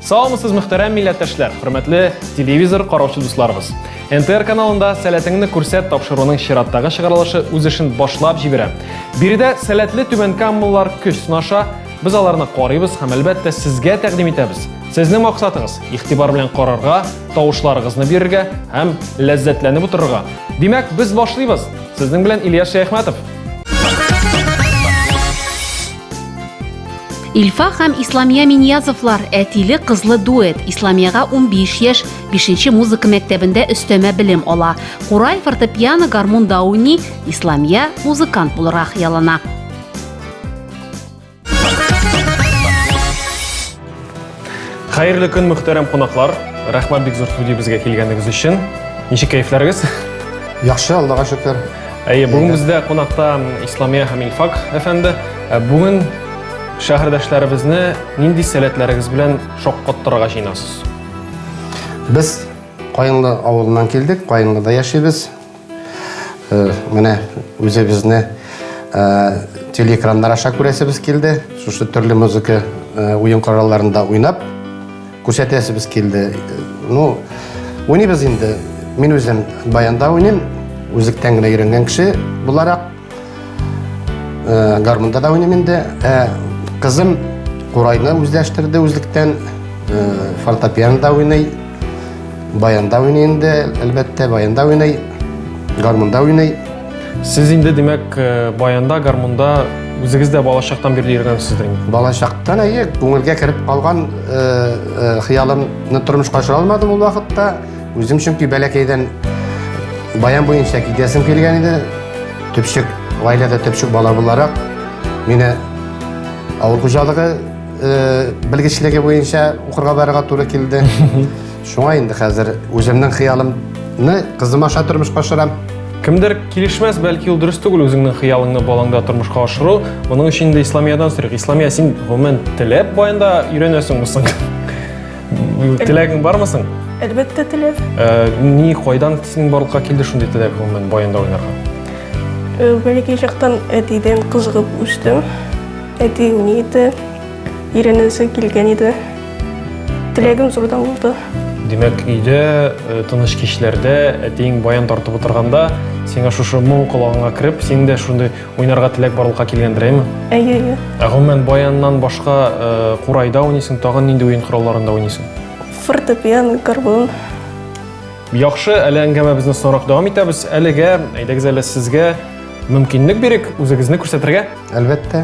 Саламсыз мөхтәрәм милләттәшләр, хөрмәтле телевизор караучы дусларыбыз. НТР каналында сәләтеңне күрсәт тапшыруының чираттагы чыгарылышы үз эшен башлап җибәрә. Биредә сәләтле түбән каммалар көч сынаша, Без аларны карыйбыз һәм әлбәттә сезгә тәкъдим итәбез. Сезнең максатыгыз игътибар белән карарга, тавышларыгызны бирергә һәм ләззәтләнеп утырырга. Димәк, без башлыйбыз. Сезнең белән Ильяс Шәяхмәтов. Ильфа һәм Исламия Миньязовлар әтиле кызлы дуэт. Исламияга 15 яшь, 5 музыка мәктәбендә өстәмә белем ала. Курай, фортепиано, гармунда уйный, Исламия музыкант булырга хыяллана. Хәерле көн, мөхтәрәм кунаклар. Рәхмәт бик зур студиябезгә килгәнегез өчен. Ничек кәефләрегез? Яхшы, Аллага шөкер. Әйе, бүген бездә кунакта Исламия һәм Илфак әфәнде. Ә Бүген шәһәрдәшләребезне нинди сәләтләрегез белән шаккаттырырга җыенасыз? Без Каенлы авылыннан килдек, Каенлыда яшибез. Э, менә үзебезне э, телеэкраннар аша күрәсебез килде шушы төрле музыка э, уен коралларында уйнап күрсәтәсебез килде ну уйныйбыз инде мин үзем баянда уйныйм үзектән генә өйрәнгән кеше буларак Э, гармунда да уйныйм инде. Э, кызым курайны үзләштерде үзлектән. Э, фортепианода уйный. Баянда уйный инде, әлбәттә, баянда уйный. Гармунда уйный. Сез инде, димәк, баянда, гармунда үзегез дә балачактан бирле йөргәнсездер инде. Балачактан әйе, күңелгә кереп калган хыялымны тормышка ашыра алмадым ул вакытта. Үзем чөнки бәләкәйдән баян буенча китәсем килгән иде. Төпчек, гаиләдә төпчек бала буларак, мине авыл хуҗалыгы э, белгечлеге буенча укырга барырга туры килде. Шуңа инде хәзер үземнең хыялымны кызым аша тормышка ашырам. Кемдер килешмәс, бәлки ул дөрес түгел үзеңнең хыялыңны балаңда тормышка ашыру. Моның өчен инде Исламиядән сорыйк. Исламия, син гомумән теләп баянда өйрәнәсеңме соң? Теләгең бармы соң? Әлбәттә, теләп. Э, ни, кайдан синең барлыкка килде шундый теләк гомумән баянда уйнарга? Э, Бәләкәй чактан әтидән кызыгып үстем. Әти ни иде? Иренәсе килгән иде. Теләгем зурдан булды. Димәк, өйдә э, тыныч кичләрдә әтиең баян тартып утырганда, сиңа шушы моң колагыңа кереп, син дә шундый Уйнарга теләк барлыкка килгәндер, әйме? Әйе, әйе. Ә гомумән баяннан башка э, курайда уйныйсың, тагын нинди уен коралларында уйныйсың? Фортепиано, гармун. Яхшы, әле әңгәмәбезне соңрак дәвам итәбез. Әлегә, әйдәгез әле сезгә мөмкинлек бирик үзегезне күрсәтергә. Әлбәттә.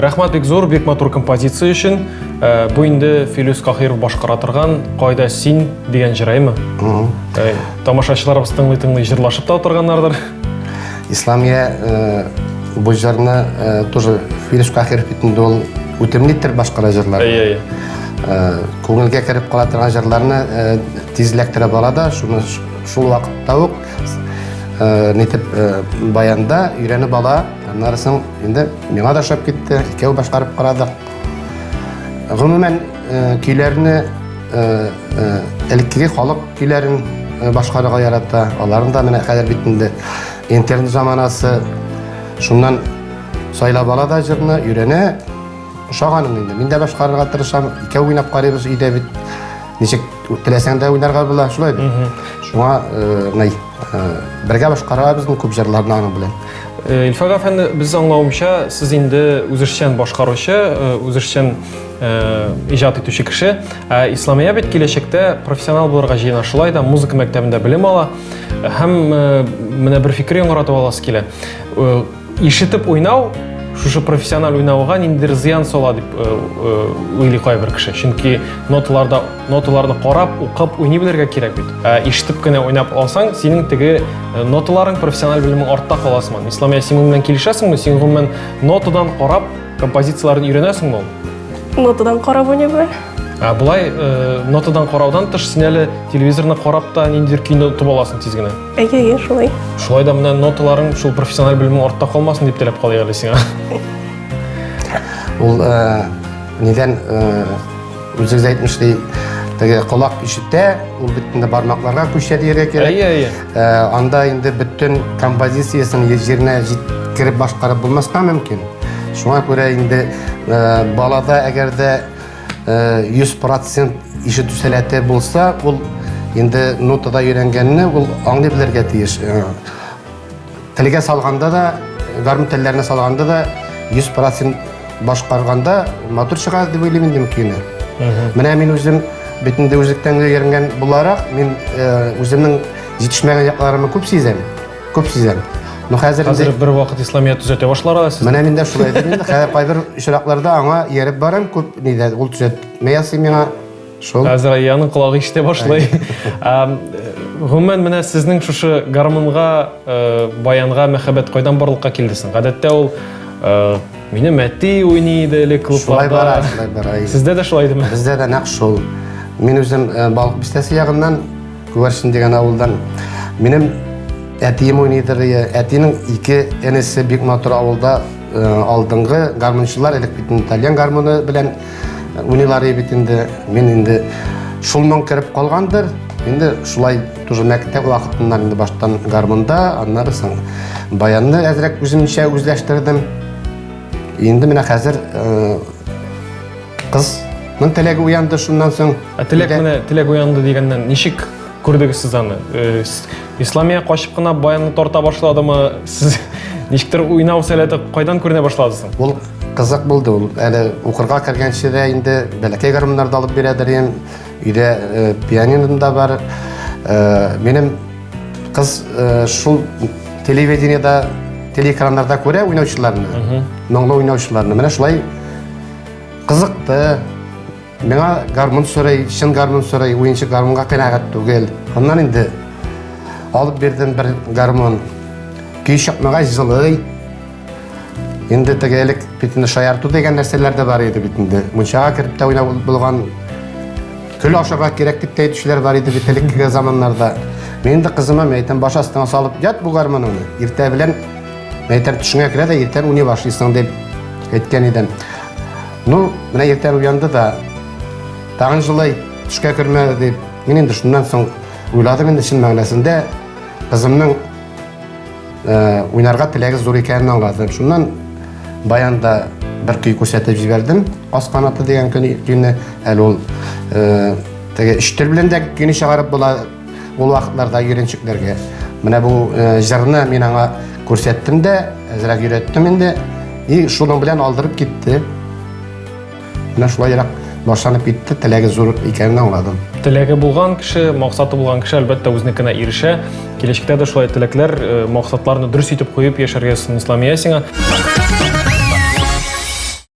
Рәхмәт бик зур, бик матур композиция өчен. Э, бу инде Филюс Кахиров башкара торган Кайда син дигән җыраймы? Э, тамашачыларыбыз тыңлый-тыңлый җырлашып та утырганнардыр. Исламия э, бу җырны э, тоже Филиш Кахиров бит инде ул үтемле итеп башкара җырлар. Әйе, әйе. Э, күңелгә кереп кала торган җырларны э, тизләк терәп ала да, шуны ш- шул вакытта ук э, нитеп э, баянда өйрәнеп ала. Аннары соң инде миңа да ошап китте, икәү башкарып карадык. Гомумән, Э, көйләрне э, э, элеккеге халык көйләрен башкарырга ярата аларын да менә хәзер бит инде интернет заманасы шуннан сайлап ала да җырны өйрәнә ошаганым инде мин дә башкарырга тырышам икәү уйнап карыйбыз өйдә бит ничек теләсәң дә уйнарга була шулай бит шуңа мынай бергә башкарабыз күп җырларны аның белән Илфак әфәнде, без аңлавымча, сез инде үзешчән башкаручы, үзешчән Э, иҗат итүче кеше. Ә Исламия бит киләчәктә профессионал булырга җыена, шулай да музыка мәктәбендә белем ала һәм э, менә бер фикер яңгыратып аласы килә. Э, ишетеп уйнау шушы профессиональ уйнауга ниндидер зыян сала дип уйлый кайбер кеше. Чөнки ноталарда ноталарны карап, укып уйный белергә кирәк бит. Ә ишетеп кенә уйнап алсаң, синең теге ноталарың профессиональ белемең артта каласыман. Исламия, син моннан килешәсеңме? Син гомумән нотадан карап Композицияләрен өйрәнәсеңме ул? Нотадан карап уйныйбы? Ә болай э, нотадан караудан тыш син әле телевизорны карап та ниндидер көйне тотып аласың тиз генә. Әйе, әйе, шулай. Шулай да менә ноталарың шул профессиональ белемең артта калмасын дип теләп калыйк әле сиңа. Ул э, нидән э, Үзегез әйтмешли, теге колак ишетә, ул бит инде бармакларга күчә дияргә кирәк. Әйе, әйе. Ә, анда инде бөтен композициясен җиренә җиткереп башкарып булмаска мөмкин. Шуңа күрә инде ә, балада әгәр дә ә, 100% ишетү сәләте булса, ул инде нотада өйрәнгәнне ул аңлый белергә тиеш. Ә, Телгә салганда да, гармун телләренә салганда да 100% башкарганда матур чыга дип уйлыйм инде көйне. Менә мин үзем бит инде үзлектән өйрәнгән буларак, мин э, үземнең җитешмәгән якларымны күп сизәм. Күп сизәм. Ну хәзер инде- Хәзер бер вакыт Исламият төзәтә башларга сез. Менә мин дә шулай дим инде. Хәзер кайбер очракларда аңа ияреп барам, күп нидә ул төзәтмә ясый миңа. Шул. Хәзер Айяның колагы ишетә башлый. Гомумән, менә сезнең шушы гармунга, э, баянга мәхәббәт кайдан барлыкка килде соң? Гадәттә ул э, мине мәти уйный иде элек клубларда. Шулай бара, шулай бара. Сездә дә шулай идеме? Бездә дә нәкъ шул. Мин үзем э, Балык бистәсе ягыннан, Күгәрсен дигән авылдан. Минем әтием уйныйдыр, әтинең ике энесе бик матур авылда алдыңгы гармунчылар элек бит итальян гармуны белән Уйныйлар бит инде. Мин инде шулман кереп калгандыр. Инде шулай тоже мәктәп вакытыннан инде баштан гармунда, аннары соң баянны әзрәк үземчә үзләштердем. Инде менә хәзер э, кызның теләге уянды шуннан соң. Ә теләк менә теләк уянды дигәннән ничек Күрдегез сез аны. Э, Исламия качып кына баянны тарта башладымы? Сез ничектер уйнау сәләте кайдан күренә башлады соң? Ул кызык булды. Ул әле укырга кергәнче дә инде бәләкәй гармуннарда алып бирәдер ем. Өйдә э, пианино да бар. Э, минем кыз шул телевидениедә, телеэкраннарда күрә уйнаучыларны, моңлы уйнаучыларны. Менә шулай кызыкты. Миңа гармун сорый, чын гармун сорый, уенчы гармунга канәгать түгел. Аннан инде алып бирдем бер гармун. Көй чыкмагач җылый. Инде теге элек бит инде шаярту дигән нәрсәләр дә бар иде бит инде. Мунчага кереп тә уйнап булган көл ашарга кирәк дип тә әйтүчеләр бар иде бит элеккеге заманнарда. Мин инде кызыма мәйтәм баш астына салып ят бу гармуныңны. Иртә белән мәйтәм төшеңә керә дә иртән уйный башлыйсың дип әйткән идем. Ну, менә иртән уянды да, тагын жылай төшкә кермә дип, мин инде шуннан соң уйладым инде чын мәгънәсендә кызымның э, уйнарга теләге зур икәнен аңладым. Шуннан баянда бер көй күрсәтеп җибәрдем. Каз канаты дигән көйне әле ул э, теге өч тел белән дә көйне чыгарып була Ул вакытларда йөренчекләргә менә бу җырны мин аңа күрсәттем дә, әзрәк өйрәттем инде. И шуның белән алдырып китте. Менә шулайрак башланып китте, теләге зур икәнен аңладым. Теләге булган кеше, максаты булган кеше әлбәттә үзенекенә ирешә. Киләчәктә дә шулай теләкләр, э, максатларны дөрес итеп куеп яшәргә Ислам Ясиңа.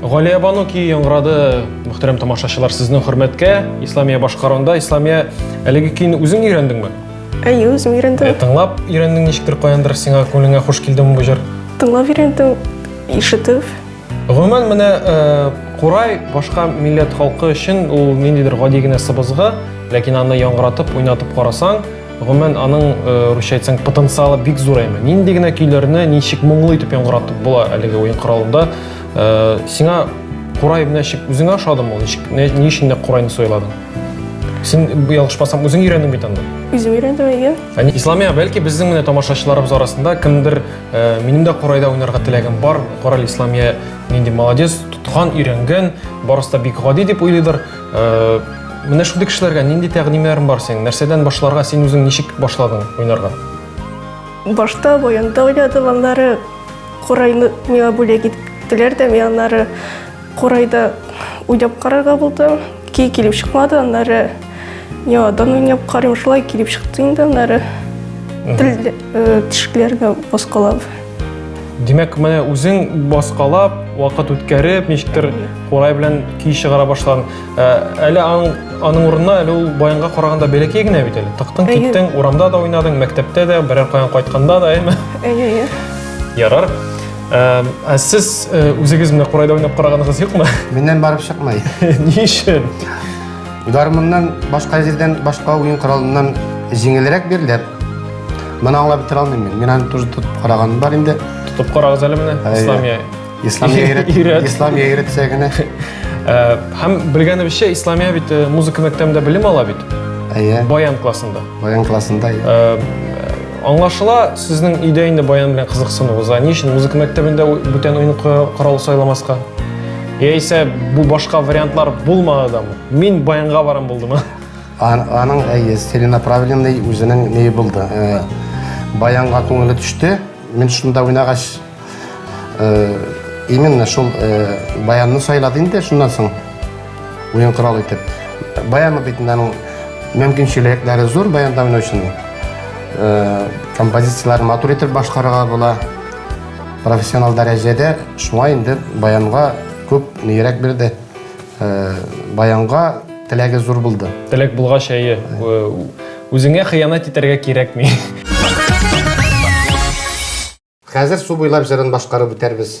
Галия Бану ки яңгырады, мөхтәрәм тамашачылар, сезнең хөрмәткә Исламия башкарында. Исламия, әлеге көйне үзең өйрәндеңме? Әйе, үзем өйрәндем. Ә, тыңлап өйрәндең ничектер каяндыр сиңа күңелеңә хуш килдеме бу җыр? Тыңлап өйрәндем, ишетеп. Гомумән менә э, курай башка милләт халкы өчен ул ниндидер гади генә сыбызгы, ләкин аны яңгыратып, уйнатып карасаң, Гомумән, аның э, русча әйтсәң потенциалы бик зур әйме. Нинди генә көйләрне ничек моңлы итеп яңгыратып була әлеге уен коралында. Э, сиңа курай менә чик үзеңә ошадымы? Ничек ни өчен дә курайны сайладың? Син ялгышмасам үзең өйрәндең бит анда. Үзем өйрәндем, әйе. Әни Исламия, бәлки безнең менә тамашачыларыбыз арасында кемдер э, минем дә курайда уйнарга теләгем бар. Корал Исламия нинди молодец, тоткан, өйрәнгән, барысы да бик гади дип уйлыйдыр. Менә шундый кешеләргә нинди тәкъдимнәрең бар синең? Нәрсәдән башларга, син үзең ничек башладың уйнарга? Башта баянда уйнадым, аннары курайны миңа бүләк иттеләр дә, мин аннары курайда уйнап карарга булдым. Кей килеп чыкмады, аннары яңадан уйнап карыйм, шулай килеп чыкты инде, аннары тел тишекләргә баскалап. Димәк, менә үзең баскалап, вакыт үткәреп, ничектер курай белән көй чыгара башладың. Ә, Әле аның, аның урынына әле ул баянга караганда бәләкәй генә бит әле. Тыктың, Әйе. киттең, урамда да уйнадың, мәктәптә дә, берәр каян кайтканда да, әйме? Әйе, әйе. Ярар. Ә, Ә сез э, үзегез менә курайда уйнап караганыгыз юкмы? Миннән барып чыкмый. Ни өчен? Гармуннан башка җирдән башка уен коралыннан җиңелрәк бирелә. Моны аңлап бетерә алмыйм мин. Мин аны тоже тотып караганым бар инде. Тотып карагыз әле менә Әйе. Исламия. Исламия өйрәт- Өйрәт. Исламия өйрәтсә генә. Э, Һәм белгәнебезчә Исламия бит э, музыка мәктәбендә белем ала бит. Әйе. Баян классында. Баян классында. әйе. Э, Аңлашыла, сезнең өйдә инде баян белән кызыксынуыгыз. Ә ни өчен музыка мәктәбендә ү- бүтән уен ку- корал сайламаска? Яисә бу башка вариантлар булмады да. Мин баянга барам булдым. Ан, аның әйе, целенаправленный үзенең не булды. Э, баянга күңеле төште. Мин шунда уйнагач э, именно шул э, баянны сайлады инде шуннан соң уен корал итеп. Баяны бит аның мөмкинчелекләре зур баянда уйнаучының. Э, композицияләрен матур итеп башкарырга була. Профессионал дәрәҗәдә шуңа инде баянга күп нирәк бирде. Э, баянга теләге зур булды. Теләк булгач, әйе. Үзеңә хыянат итәргә кирәкми. Хәзер су буйлап җырын башкарып үтәрбез.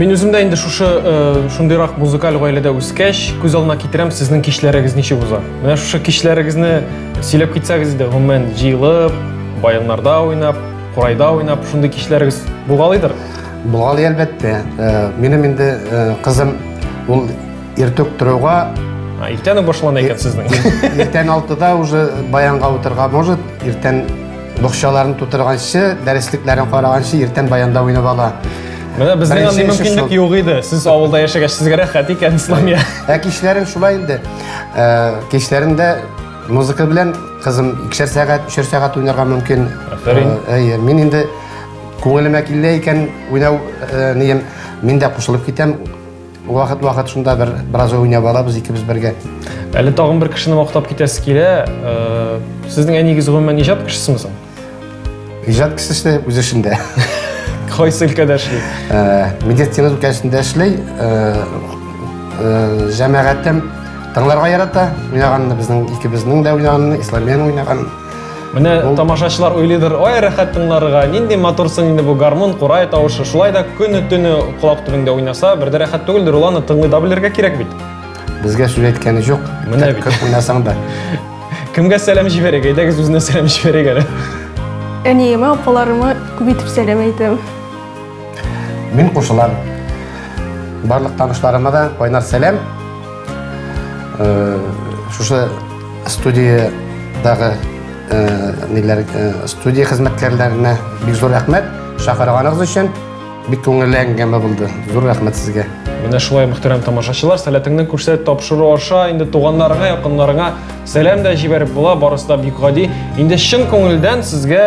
Мин үзем дә инде шушы э, шундыйрак музыкаль гаиләдә үскәч, күз алдына китерәм сезнең кичләрегез ничек уза. Менә шушы кичләрегезне сөйләп китсәгез иде, гомумән җыелып, баяннарда уйнап, курайда уйнап, шундый кичләрегез булгалыйдыр. Булгалы әлбәттә. Э, минем инде э, кызым ул иртүк торуга иртән үк башлана икән сезнең. Иртән 6 уже баянга утырга может, иртән Бокчаларын тутырганчы, дәреслекләрен караганчы, иртән баянда уйнап ала. Менә безнең Беренче андый эше мөмкинлек шул. юк иде. Сез авылда яшәгәч, сезгә рәхәт икән, Исламия. Ә кичләрен шулай инде. Ә, Кичләрен дә музыка белән кызым икешәр сәгать, өчәр сәгать уйнарга мөмкин. Афәрин. Ә, Әйе, мин инде күңелемә килә икән уйнау ә, нием, мин дә кушылып китәм. Вакыт-вакыт шунда бер бераз уйнап алабыз икебез бергә. Әле тагын бер кешене мактап китәсе килә. Э, сезнең әнигез гомумән иҗат кешесеме соң? Иҗат кешесе үз эшендә. Кайсы өлкәдә эшли? Э, медицина өлкәсендә эшли. Э, Җәмәгатем тыңларга ярата. Уйнаганны безнең икебезнең дә уйнаганны, Исламияның уйнаганын. Менә тамашачылар уйлыйдыр, ой, рәхәт тыңларга, нинди матурсың инде бу гармун, курай тавышы. Шулай да көне төне колак төбеңдә уйнаса, бер дә рәхәт түгелдер, ул аны тыңлый да белергә кирәк бит. Безгә сүз әйткәне юк. Менә бит. Күп уйнасаң да. Кемгә сәлам җибәрәк? Әйдәгез үзенә сәлам җибәрәк әле. Әниемә, апаларыма күп итеп сәлам әйтәм. Мин кушылам. Барлык танышларыма да кайнар сәлам. Э, шушы студиядагы э, ниләр э, студия хезмәткәрләренә бик зур рәхмәт чакырганыгыз өчен бик күңелле әңгәмә булды зур рәхмәт сезгә менә шулай мөхтәрәм тамашачылар сәләтеңне күрсәт тапшыру аша инде туганнарыңа якыннарыңа сәлам да җибәреп була барысы да бик гади инде чын күңелдән сезгә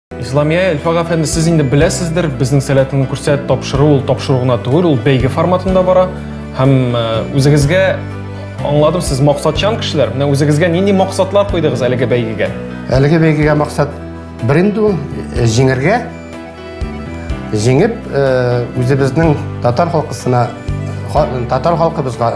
Исламия Эльфаг әфәнде, сез инде беләсездер, безнең сәләтеңне күрсәт тапшыру ул тапшыру гына түгел, ул бәйге форматында бара. Һәм э, үзегезгә аңладым, сез максатчан кешеләр. Менә үзегезгә нинди максатлар куйдыгыз әлеге бәйгегә? Әлеге бәйгегә максат бер инде ул э, җиңәргә. Җиңеп, э, үзебезнең татар халкысына татар халкыбызга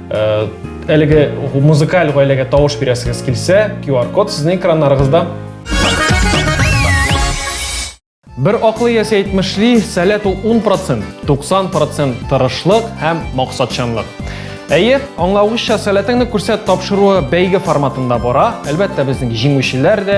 Э, әлеге музыкаль гаиләгә тавыш бирәсегез килсә, QR-код сезнең экраннарыгызда. Бер аклы ясә әйтмешли, сәләт ул 10%, 90% тырышлык һәм максатчанлык. Әйе, аңлавыгызча, сәләтеңне күрсәт тапшыруы бәйге форматында бара. Әлбәттә, безнең җиңүчеләр дә,